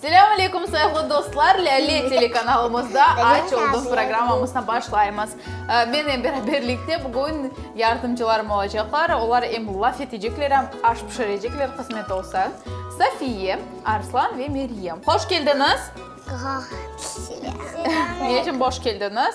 Selâm aleyküm, sayğılı dostlar! Lâle telekanalımızda Aç oldum programmamızdan başlaymız. Mennen beraberlikte bugün yardımcılarım olacaqlar. Olar em laf etecekler, em aş pişirecekler, qısmet olsa. Safiye, Arslan ve Meryem. Hoş keldiñiz! Selam! Ne içün boş keldiñiz?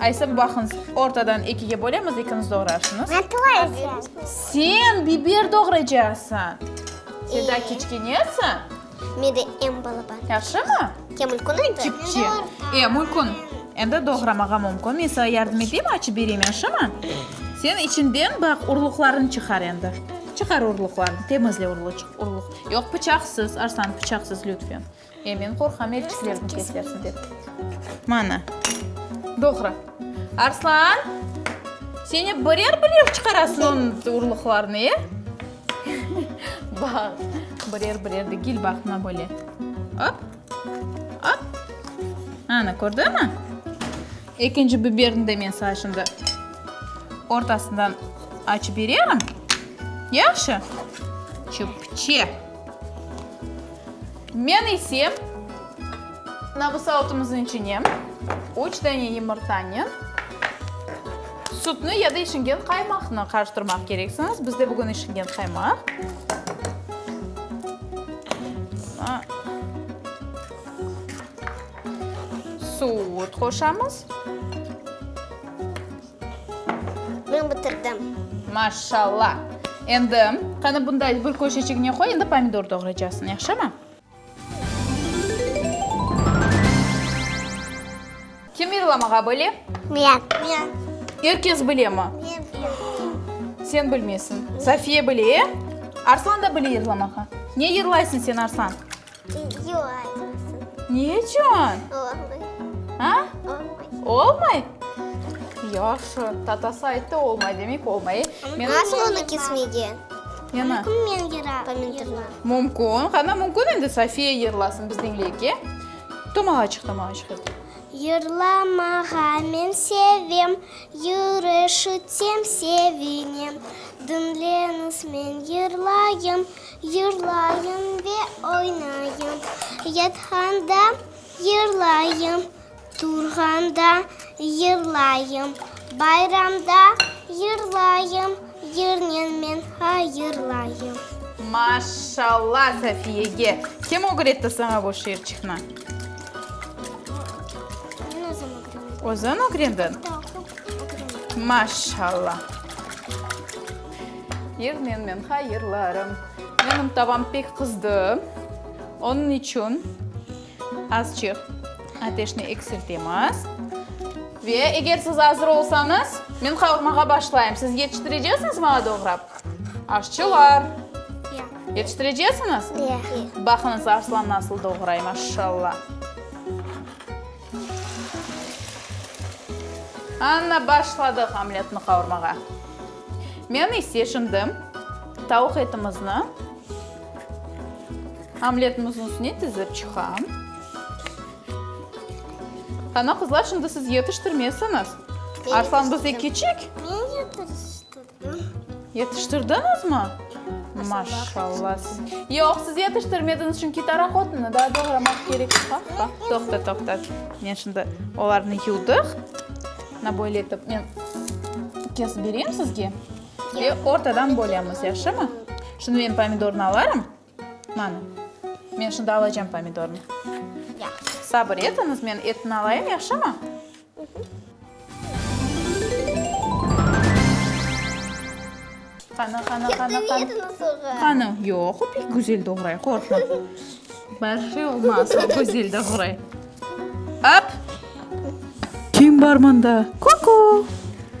Aysıp baqıñız, ortadan ekige bölemiz, ikiniz doğrarsıñız. Ben doğraycam. Sen biber doğraycasıñ. Sen daa kiçkenesiñ. Men de em balaban. Yahşımı? Kem mülkün endi? Kipçi. E, mülkün. Endi doğramağa mümkün. Men saña yardım eteyim, açıp bereyim, yahşımı? Sen içinden baq, urluqlarını çıqar endi. Çıqar urluqlarını, temizle urluq. Yoq, pıçaqsız, Arslan, pıçaqsız, lütfen. E, men qorqam, elçilerni kesersiñ dep. Mana, doğru. Arslan, sen ep birer-birer çıqarasıñ onıñ urluqlarını, e? Baq, birer-birer degil, baq, mına böyle. Op, op. Ana, kördiñmi? Ekinci biberni de men saña şimdi ortasından açıp bererim. Yahşı? Çöpçe. Men ise nabısautımıznıñ içine üç dane yımırtanıñ, sütni ya da işingen qaymaqnı qarıştırmaq kereksiñiz. Bizde bugün işingen qaymaq. Süt qoşamız. Men bitirdim. Maşşalla! Endi, qani bunda gül köşecigine qoy, endi pomidor doğraycasıñ, yahşımı? Kim yırlamağa bile? Men. Men. Er kes bilemi? Men bilem. Sen bilmeysiñ. Safiye bile, e? Arslan da bile yırlamağa. Ne yırlaysıñ sen, Arslan? Video aytmasın. Ne içün? Olmay. A? Olmay. Olmay? Yahşı, tatası ayttı, olmay, demek olmay. Men- Nasıl onu kesmegen? Yana. Mümkün men yıra. Kommentarlar. Mümkün. Qana mümkün endi Sofiya yırlasın, biz diñleyik, e? Tomağaçıq, tomağaçıq et. Yırlamağa men sevem, yırışıtem, sevinem. Diñleñiz, men yırlayım. Yırlayım ve oynayım. Yatqanda yırlayım, turğanda yırlayım, bayramda yırlayım, yırnen men ha yırlayım. Maşşalla Safiyege! Kim ögretti saña bu şiirçiqni? Men özüm ögrendim. Özün ögrendiñ? Da, oqup ögrendim. Maşşalla! Yevmenmen hayırlarım. Menim tavam pek qızdı. Onıñ içün azçıq ateşni eksiltemiz. Ve eger siz azır olsañız, men qavurmağa başlayım. Siz yetiştirecesiñiz maña doğrap? Aşçılar! Yoq. Yetiştirecesiñiz? Yoq. Baqıñız, Arslan nasıl doğray, maşşalla. Ana, başladıq omletni qavurmağa. Men ise şimdi tavuq etimizni omletimizniñ üstüne tizip çıqam. Ana, qızlar, şimdi siz yetiştirmesiñiz. Arslan bizde kiçik. Men yetiştirim. Yetiştirdiñizmi? Maşallah! Yoq, siz yetiştirmediñiz, çünki tarahotıñnı daa doğramaq kerek. Toqta, toqta, men şimdi olarnı yuvdıq. Mına böyle etip men kesip bereyim sizge ve ortadan bölemiz, yahşımı? Şimdi men pomidornı alarım. Mana, men şimdi alacağım pomidornı. Yahşı. Sabır etiñiz, men etni alayım, yahşımı? Qana, qana, qana, qana. Ketmedi nasılğa? Qana, yoq, o pek güzel doğray, qorqma. Bir şey olmaz, o güzel doğray. Ap! Kim bar mında? Ku-ku!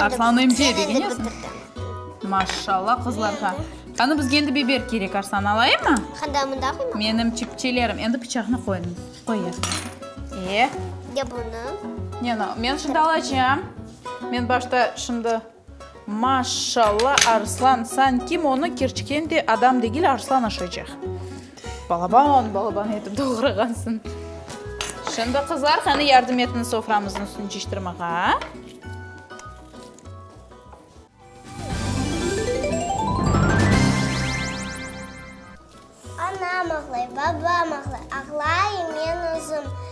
Arslanım diye degenesiñ? Maşallah qızlarğa. Qani bizge endi biber kerek, Arslan, alayımmı? Menim çipçelerim. Endi pıçaqnı qoyuñ. Qoyıver. E? Ya bunı? Ne, men şimdi alacam. Men başta şimdi... Maşallah, Arslan, sanki monı kerçken de adam degil, Arslan aşaycaq. Balaban, balaban etip doğrağansıñ. Şimdi, qızlar, qani, yardım etiñ soframıznıñ üstüni ciştirmege.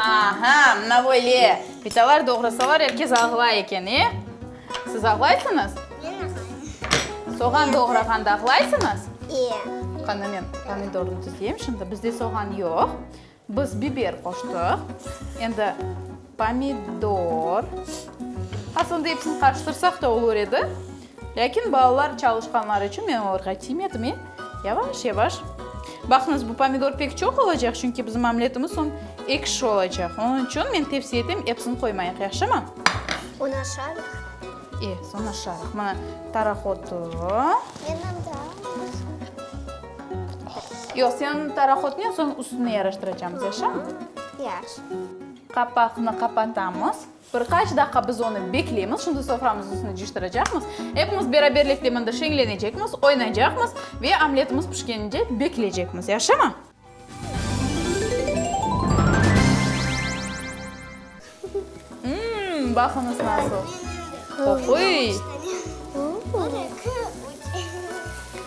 Aha, mına böyle! Pitalar doğrasalar, er kes ağlay eken, e? Siz ağlaysıñız? Men ağlayım. Soğan doğrağanda ağlaysıñız? İyi. Qana, men pomidornı tüzeyim şimdi. Bizde soğan yoq. Biz biber qoştıq. Endi pomidor. Aslında episini qarıştırsaq da olur edi. Lâkin balalar çalışqanları içün men olarğa tiymedim, e, yavaş-yavaş. Baqıñız, bu pomidor pek çoq olacaq, çünki bizim omletimiz soñ ekşi olacaq. Onıñ içün men tepsi etem, episini qoymayıq, yahşımı? Onı aşarıq. E, soñ aşarıq. Mına, taraq otu. Mennem de az. Yoq, sen taraq otnen soñ üstüne yaraştıracamız, yahşımı? Yaxşı. Qapaqnı qapatamız. Bir qaç daqqa biz onı bekleymiz, şimdi soframız üstüni cıştıracaqmız. Epimiz beraberlikte mında şeñlenecekmiz, oynaycaqmız ve omletimiz pişkenince bekleycekmiz. Yaşımı? Imm, baqıñız nasıl qoquy!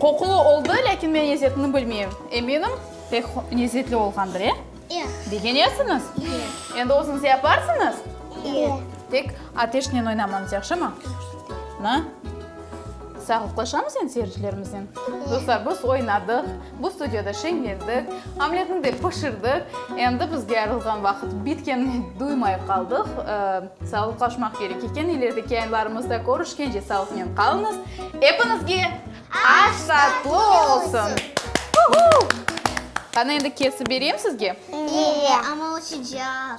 Qoqulı oldı, lâkin men lezzetini bilmeyim. Eminim, pek lezzetli olğandır, e? Begenesiñiz? Endi özüñiz yaparsıñız? Tek ateşnen oynamañız, yahşımı? Na? Sağlıqlaşamız endi seyircilerimiznen. Dostlar, biz oynadıq. Bu studiyada şeñlendik, omletni de pişirdik. Endi bizge ayırılğan vaqıt bitkenini duymay qaldıq. Sağlıqlaşmaq kerek eken. İlerideki yayınlarımızda körüşkence sağlıqnen qalıñız. Epiñizge aş tatlı olsun! Qani, endi kesip bereyim sizge? Eee, amma o sıcaq.